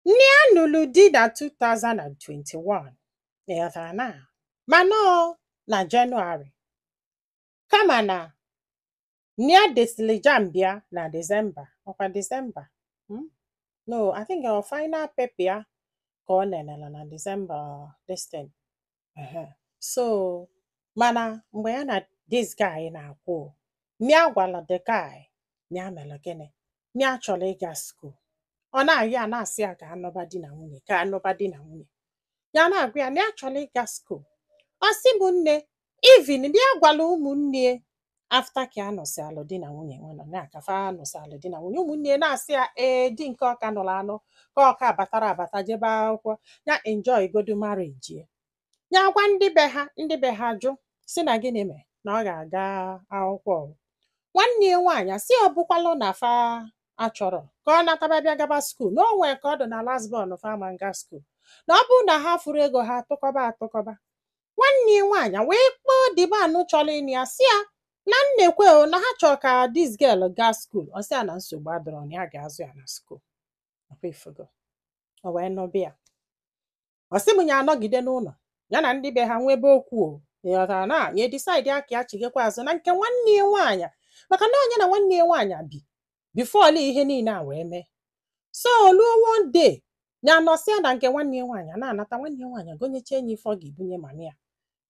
Nne ya nụrụ di na 2021 ị ghọtara na mana ọ na Jenụwarị kama na nne ya desịrị JAMB ya na Disemba ọkwa Disemba hmm? no I think ọ final paper ya ka ọ nenela na Disemba this thing Ehe. so mana mgbe ya na this guy na-akwụ o, nya gwara the guy na ya mere gịnị na ya chọrọ ịga skuul ọ na-ayọ ya na-asị ya ka a nụba di na nwunye ka a nụba di na nwunye ya na-agwa ya na ya chọrọ ịga skuul ọ sị m nne even di ya gwara ụmụnne after ka a nụsịalụ di na nwunye nwe nọ na ka fa nụsịalụ di na nwunye ụmụnne ya na-asị ya ee di nke ọ ka nụrụ anụ ka ọ ka batara abata jebe akwụkwọ ya enjoy godu marriage ya ya gwa ndị be ha ndị be ha jụ sị na gịnị mere na ọ ga-aga akwụkwọ o nwanne ya nwaanyị asị ọ bụkwalụ na fa achọrọ ka ọ nataba bịa gaba skuul na o nwee ka ọ dị na last born fa ama aga skuul na ọ bụrụ na ha fụrụ ego ha atụkọba atụkọba nwanne ya nwaanyị wee kpọọ the man chọrọ ịnụ ya sị ya na nekwe o na ha chọrọ ka this girl gaa skuul ọ sị ya na nsogbu adịrọ na ya ga-azụ ya na skuul ọkwa ifugo o wee nụba ya ọ sị m ya anọgide n'ụlọ ya na ndị be ha nwebe okwu o ịghọtara na ya decide ka ya chigekwa azụ na nke nwanne ya nwaanyị maka na ọ nya na nwanne ya nwaanyị bi before all ihe niile a wee mee so o luo one day ya anọsịa na nke nwanne ya nwaanyị a na-anata nwanne ya nwaanyị egonyecha nya ife ọ ga-ebunye mama ya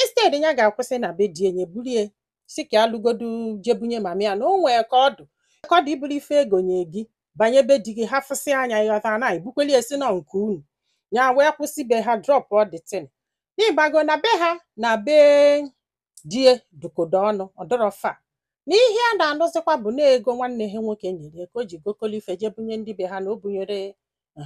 instead ya ga-akwụsị na be di e nya bulie sị ka ya lugodu je bunye mama ya na o nwee ka ọ dụ ka ọ dị i buru ife e gonye gị banye be di gị ha fụsị anya ịghọta na i bukweli e si na nke unu ya wee kwụsị be ha drop all the thing n'ịmago na be ha na be di e dịkọdo ọnụ ọ dịrọ far na ihe a na-anụzikwa bụ na ego nwanne ha nwoke nyere ya ka o ji gokolo ife jee bunye ndị be ha na o bunyere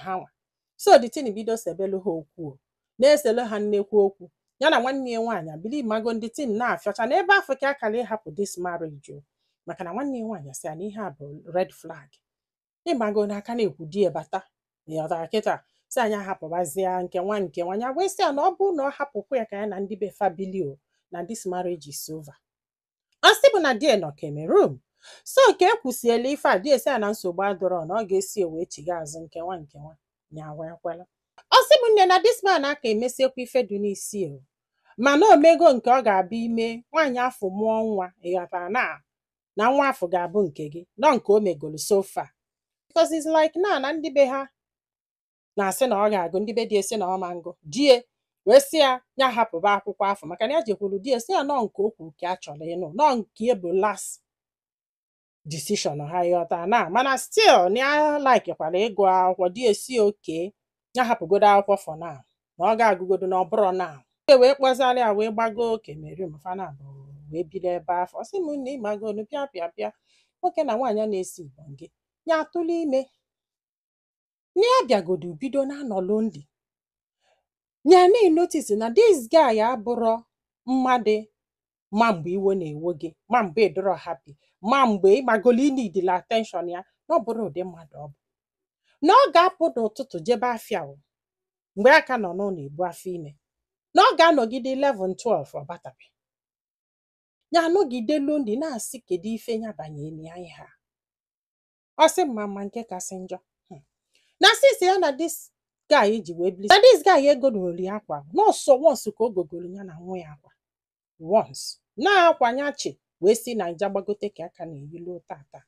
hanwa so the thing bido sebelu ha okwu o, na-eselu ha nnekwu okwu ya na nwanne ya nwaanyị ebili ịmago na the thing na-afịọcha na ebe afụ ka akara ịhapụ this marriage o maka na nwanne ya nwaanyị sị ya na ihe a bụ red flag ịmago na a ka na-ekwu di ya bata ịghọtara kịta sị anyị ahapụbazia nke nwa nke nwa ya wee sị ya na ọ bụrụ na ọ hapụkwa ya ka ya na ndị be fa bili o na this marriage is over ọ sị bụ na di e nọ Cameroon so ka e kwusịala ife a di e sị ya na nsogbu adịrọ na ọ ga-esi wee chiga azụ nke nwa nke nwa ya wee kwela ọ sị bụ nne na this man aka emesịkwa ife dị n'isi e mana o mego nke ọ ga-abịa ime nwaanyị afụ mụọ nwa ịghọtara na na nwa afụ ga-abụ nke gị nọ nke o megolu so far because it's like na na ndị be ha na-asị na ọ ga-agụ ndị be di e sị na ọ ma ngụ di e wee sị ya ya hapụba akwụkwọ afụ maka na ya jekwuru di e sị ya nọ nke o kwu ka a chọrọ ịnụ nọ nke ya bụ last decision ha ị ghọta na mana still na ya laikikwara ịgụ akwụkwọ di e sị okay ya hapụgodo akwụkwọ for now na ọ ga-agụgodo na ọ bụrọ now e wee kpọzilị ya wee gbago Cameroon fa naabọ wee bido ebe afụ ọ sị m nne ị magonu pịa pịa pịa nwoke na nwaanyị a na-esi igbo gị ya atụla ime na ya bịagodo bido na-anọ lonely ya na-enotis na this guy abụrọ mmadụ ma mgbe iwe na-ewe gị ma mgbe ị dụrọ happy ma mgbe ị magolu ị needila attention ya na ọ bụrọ ụdị mmadụ ọ bụ na ọ ga-apụ n'ụtụtụ jebe afịa o, mgbe a ka nọ n'ụlọ ebu afọ ime na ọ ga-anọgide 11 12 ọ batabe ya anọgide lonely na-asị kedu ife ya banyere ya ihe a ọ sị m ma ma nke kasị njọ Hmm. na since ya na this guy ji wee bili na this guy egorori ya akwa na ọ sọ once ka o gogoro ya na nwa ya akwa once na akwa ya chị wee si Naija gbagote ka ya ka na-eyi lu tata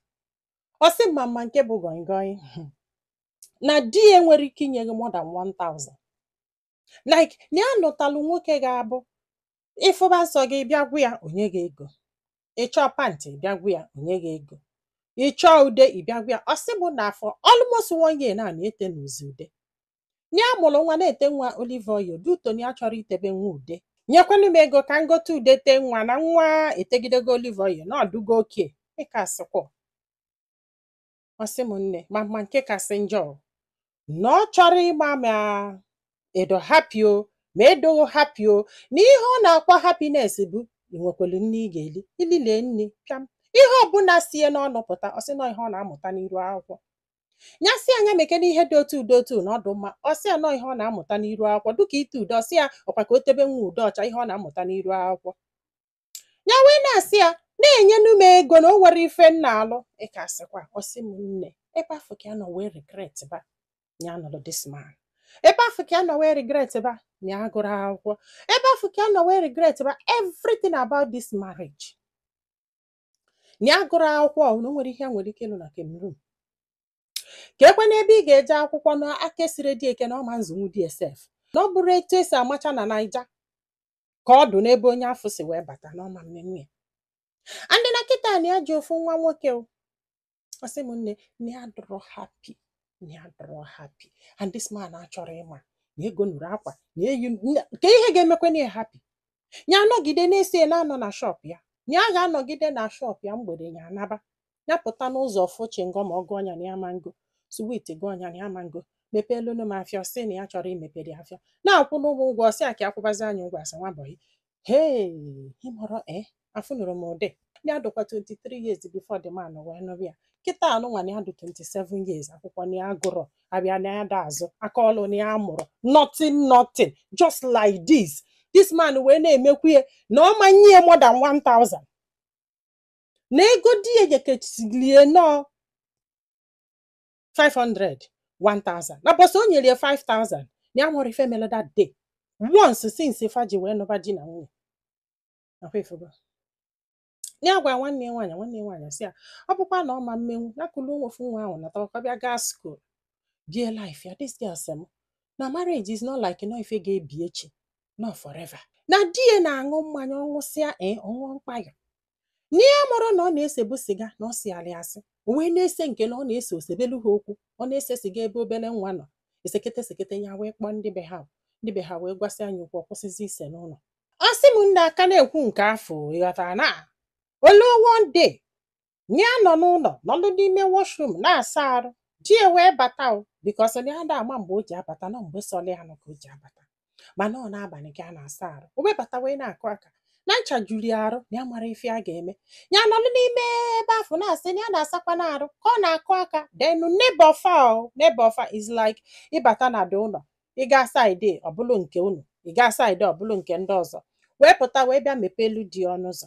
ọ sị m ma ma nke bụ gọngọị Hmm. na di ya enwere ike inye gị more than 1000 like na ya lụtalụ nwoke ga-abụ ị fụba nsọ gị ị bịa gwa ya o nye gị ego ị chọọ pant ị bịa gwa ya o nye gị ego ị chọọ ude ị bịa gwa ya ọ sị bụ na afọ almost one year na na-ete n'uzi ude na ya mụrụ nwa na-ete nwa olive oil dutoni ya chọrọ itebe nwa ude nyekwanụ m ego ka m gote ude tee nwa na nwa etegidego olive oil na ọ dụgo okay ị ka-asịkwa ọ sị m nne ma ma nke kasị njọ o, na ọ chọrọ ịma ma ị dụ happy o ma ị dụghị happy o na ihe ọ na-akpọ happiness bụ i nwekwelu nni ị ga-eli i lie nni pịam ihe ọbụla si e n'ọnụ pụta ọ sị na ọ ihe ọ na-amụta n'iru akwụkwọ ya sị ya mekene ihe dụ otu dụ otu na ọ dụ mma ọ sị ya na ọ ihe ọ na-amụta n'iru akwụkwọ dịka ite ude ọ sị ya ọ kwa ka o tebe nwa ude ọcha ihe ọ na-amụta n'iru akwụkwọ ya wee na-asị ya na-enyenu m ego na o nwere ife m na-alụ ị ka-asịkwa ọ sị m nne ebe afụ ka ya nọ wee regret ba ya nụrụ this man ebe afụ ka ya nọ wee regret ba ya agụrọ akwụkwọ ebe afụ ka ya nọ wee regret ba everything about this marriage ya gụrụ akwụkwọ ọ na o nwere ihe ya nwere ike ịlụ na Cameroon ka e kwe na ebe ị ga-eje akwụkwọ na aka esirọ di e ike na ọ ma nzụnwu dsf na ọ bụrọ etu e si amacha na Naija ka ọ dụ n'ebe onye afụ si wee bata n'ọma mmemme ya and na kịta na ya ji ofu nwa nwoke o ọ sị m nne na ya adụrọ happy na ya adụrọ happy and this man achọrọ ịma na egonuru akwa na eyi na- ka ihe ga-emekwa na ya happy ya anọgide na-esi ya na-anọ na shop ya na ya ga-anọgide na shop ya mgbede ya anaba ya pụta n'ụzọ fụ chewing gum ọ gụọ ya na ya ma ngo sweet gụọ ya na ya ma ngo mepeelunu m afịa sị na ya chọrọ imepere afịa na-akwụ n'ụgwọ ụgwọ sị a ka akwụbazi anyị ụgwọ asị nwa bọyị hee ịmọrọ e afụnụrọ m ụdị ya dụkwa 23 years before the man wee nụrụ ya kịta anụnwa na ya dị 27 years akwụkwọ na ya agụrọ afịa na ya da azụ aka ọlụ na ya amụrọ nothing nothing just like this this man wee na-emekwu ya na ọ ma nye ya more than 1000 na ego di ya nyekesili ya na ọ 500 1000 na ụbọsị o nyere ya 5000 na ya amarọ ife mere that day once since fa ji wee nụba di na nwunye na ọ kwa ifugo ya gwa nwanne ya nwaanyị nwanne ya nwaanyị sị ya ọ bụkwa na ọ ma mmenwu ya kulu ofu nwa ahụ natakwa bịa gaa school bie life ya this girl sị m na marriage is not like na ọ ife ga-ebi echi na ọ forever na di ya na-aṅụ mmanya ọ ṅụsịa ee ọ ṅụọ mkpayọ na ya amarọ na ọ na-esebu siga na ọ sili ya asị o wee na-ese nke na ọ na-ese o sebelu ha okwu ọ na-ese siga ebe obere nwa nọ esekete esekete ya wee kpọọ ndị be ha ndị be ha wee gwasịa nya okwu ọ kwụsịzi ise n'ụlọ ọ sị m nne a ka na-ekwu nke afụ ị ghọtara na o lu one day ya nọ n'ụlọ nọlụ n'ime washroom na-asa arụ di ya wee bata o because na ya da ama mgbe o ji abata na ọ mgbe sọlụ ya nnọọ ka o ji abata mana ọ n'abalị ka a na-asa arụ o wee bata wee na-akụ aka na ncha juru ya arụ na ya amarọ ife a ga-eme ya nọlụ n'ime ebe afụ na-asị na ya na-asakwanụ arụ ka ọ na-akụ aka then neighbor fa o neighbor fa is like ị bata na the ụlọ ị gaa side ọ bụlụ nke unu ị gaa side ọ bụlụ nke ndị ọzọ wee pụta wee bịa mepeelu di ọnụ ụzọ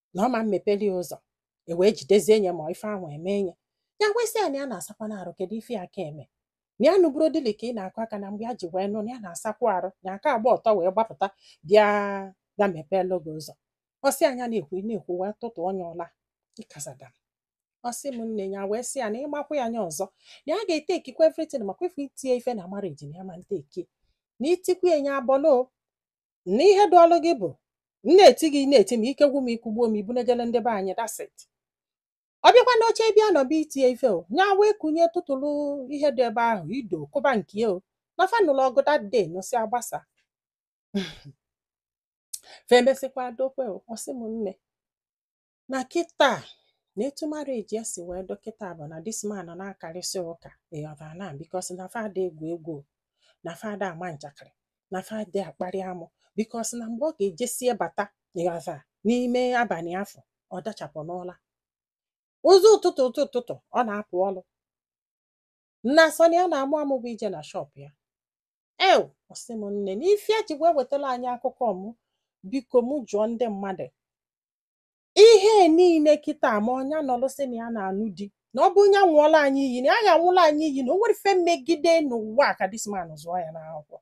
na ọ ma mmepeli ya ụzọ e wee jidezie nye ma ife ahụ eme nye ya wee sị ya na ya na-asakwanụ arụ kedu ife ya ka eme na ya anụburọ dịlị ka ị na-akụ aka na mgbe ya ji wee nụ na ya na-asakwa arụ na aka agba ọtọ wee gbapụta bịa mepeelu gị ụzọ ọ sị nya na-ekwu ị na-ekwu wee tụtụọ nye ụla ịkazada ọ sị m nne ya wee sị ya na ị makwaa nya ọzọ na ya ga-etakekwa everything ma ọ kwa ife iti nye ife na marriage na ya ma ntake na i tikwuo nye abọlo na ihe dụụlụ gị bụ m na-eti gị ị na-eti m ike gwụ m i kugbuo m i bunejelu ndị be anyị that's it ọ bịakwa n'oche bịa nọba iti ye ife o nya wee kunye tụtụlụ ihe dị ebe ahụ ido kụba nke ya o na fa nụlụ ọgụ that day nụsịa gbasa fa emesịkwa dokwe o ọ sị m nne na kịta na etu marriage ya si wee dụ kịta bụ na this man na-akarịsị ụka ịghọtara na because na fa ada egwu egwu na fa ada ama njakịrị na fa ada akparị amụ because na mgbe ọ ga-ejesie bata ịghọta n'ime abalị afụ ọ dachapụ n'ụla ụzọ ụtụtụ ụtụ ụtụtụ ọ na-apụ ọrụ na sọ nya na-amụ amụ bụ ije na shọp ya ew ọ sị m nne na ife ya ji wee wetara anyị akụkọ mụ biko mụ jụọ ndị mmadụ ihe niile kịta ma ọ nya nọlụ sị na ya na-anụ di na ọ bụ nya ṅụọlụ anyị iyi na ya ya-aṅụlụ anyị iyi na o nwere ife megide n'ụwa a ka this man zụọ ya n'akwụkwọ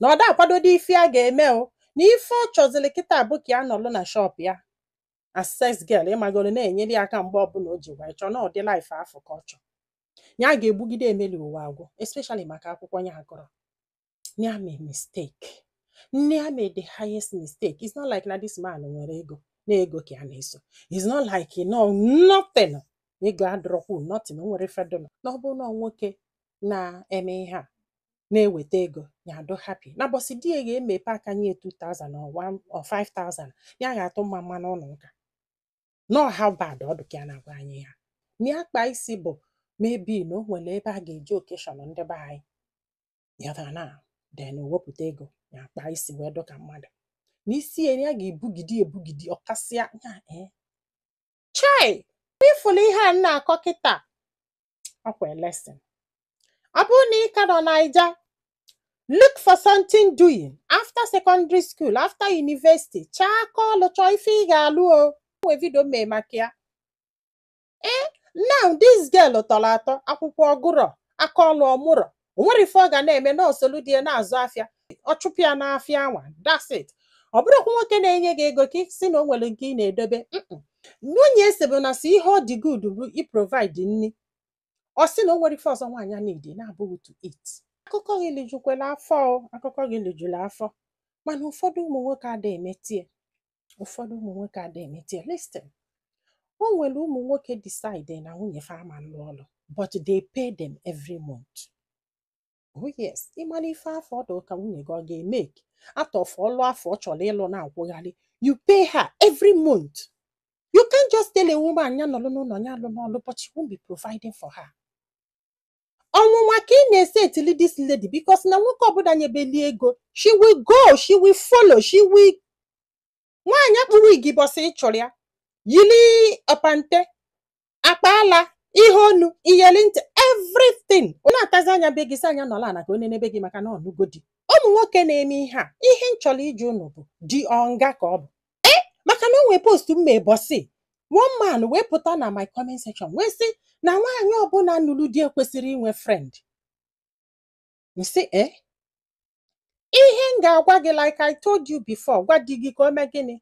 na ọ da akwadodị ife a ga-eme o na ife ọ chọziri kịta bụ ka ya nọlụ na shọp ya as sales girl ịmagoro na-enyere ya aka mgbe ọbụla o ji wee chọọ na ụdị life afụ ka ọ chọọ ya ga-ebigide emeli ụwa agwụ especially maka akwụkwọ ya gụrụ na ya made mistake na ya made the highest mistake it's not like na this man nwere ego na ego ka ya na-eso it's not like you know nothing ego adụrọkwu nothing o nwere ife dị na na ọ bụrụ na ọ nwoke na-eme ihe a na-eweta ego ya adụ happy na ụbọsị di ya ga-emepe aka nye 2000 or 1 or 5000 ya ga-atụ mmamma n'ụlọ ụka know how bad ọ dị ka ya na-agwa anyị ya na akpa isi bụ maybe na o nwere ebe a ga-eje occasion ndị be anyị ya na then wepụta ego ya akpa isi wee dụ ka mmadụ n'isi ya ya ga-ebugide ebugide ọ kasịa ya ee chai ị fụlụ ihe a na-akọ kịta ọ kwa lesson ọ bụrụ na ị ka nọ naija look for something doing after secondary school after university chọọ aka ọlụ chọọ ife ị ga-alụ o nwee video m mee maka ya ee now this girl tọrọ atọ akwụkwọ ọ gụrọ aka ọlụ ọ mụrọ o nwere ife ọ ga na-eme na o solu di ya na-azụ afịa ọ chụpụ ya n'afịa anwa that's it ọ bụrụkwa nwoke na-enye gị ego ka ị sị na o nwere nke ị na-edobe mm-mm. nwunye ese bụ na sọ ihe ọ dị good bụ iprovide nri ọ sị na o nwere ife ọzọ nwaanyị needi na-abụghị to eat akụkọ gị lijukwela afọ o, akụkọ gị lijuru afọ mana ụfọdụ ụmụ nwoke adịghị emetie ụfọdụ ụmụ nwoke adịghị emete ya listen o nwere ụmụ nwoke decide na nwunye fa ama lụọ ọlụ but they pay them every month oh yes ị mara ife afụ ọ dụ ka nwunye gị ọ ga-emake out of ọlụ afụ ọ chọrọ ịlụ na-akwụgharị you pay her every month you can't just tell a woman ya nọlụ n'ụlọ ya alụna ọlụ but you won't be providing for her ọnwụnwa ka ị na-esetili this lady because na nwoke ọbụla nyebeli ego she will go she will follow she will nwaanyị akpụ wig ụbọsị ị chọrọ ya yili ọpante akpa ala ihe onu iyeli ntị everything ọ na-atazi anya be gị si anya nọla ala ka onye n'ebe gị maka na ọ nụgo di ụmụ nwoke na-eme ihe a ihe m chọrọ ịjụ unu bụ di ọ nga ka ọ bụ ee maka na o nwee post m mee bọsị one man wee pụta na my comment section wee sị na nwaanyị ọbụla nụrụ di ekwesịrọ inwe friend m sị ee ihe m ga-agwa gị like I told you before gwa di gị ka o mee gịnị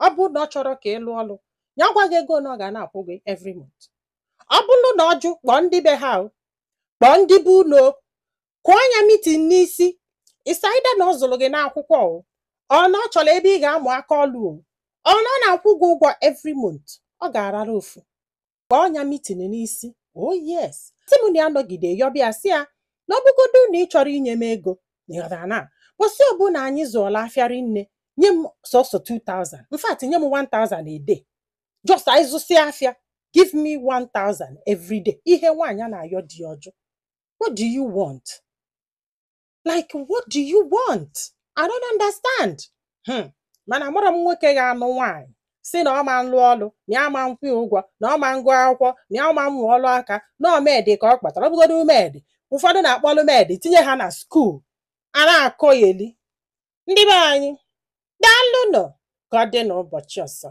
ọ bụrụ na ọ chọrọ ka ị lụọ ọlụ ya gwa gị ego na ọ ga na-akwụ gị every month ọ bụrụ na ọ jụ kpọọ ndị be ha o, kpọọ ndị be unu kụọ nya mitin n'isi it's either na ọ zụrụ gị n'akwụkwọ o or na ọ chọrọ ebe ị ga-amụ aka ọlụ o or na ọ na-akwụ gị ụgwọ every month ọ ga-arara ofu kpọọ nya mitin n'isi oh yes sị m na ya nọgide yọ bịa sị ya na ọ bụgodu na ị chọrọ inye m ego na ịghọtara na bọsị ọbụla anyị zụọla afịa ri nne nye m sọsọ 2000 in fact nye m 1000 a day just anyị zụsịa afịa give me 1000 every day ihe nwaanyị a na-ayọ di ọ jụ What do you want? Like, what do you want? I don't understand. Hmm. Mana amụrọ m nwoke ga-anụ nwaanyị sị na ọ ma nlụ ọlụ na ya ma nkwụ ya ụgwọ na ọ ma ngụ akwụkwọ na ya ma mmụ ọlụ aka na ọ maid ka ọ kpọtara ọ bụgodu maid ụfọdụ na-akpọlụ maid tinye ha na skuul a na-akọyeli ndị be anyị daalụnụ ka ọ dị n'ụbọchị ọzọ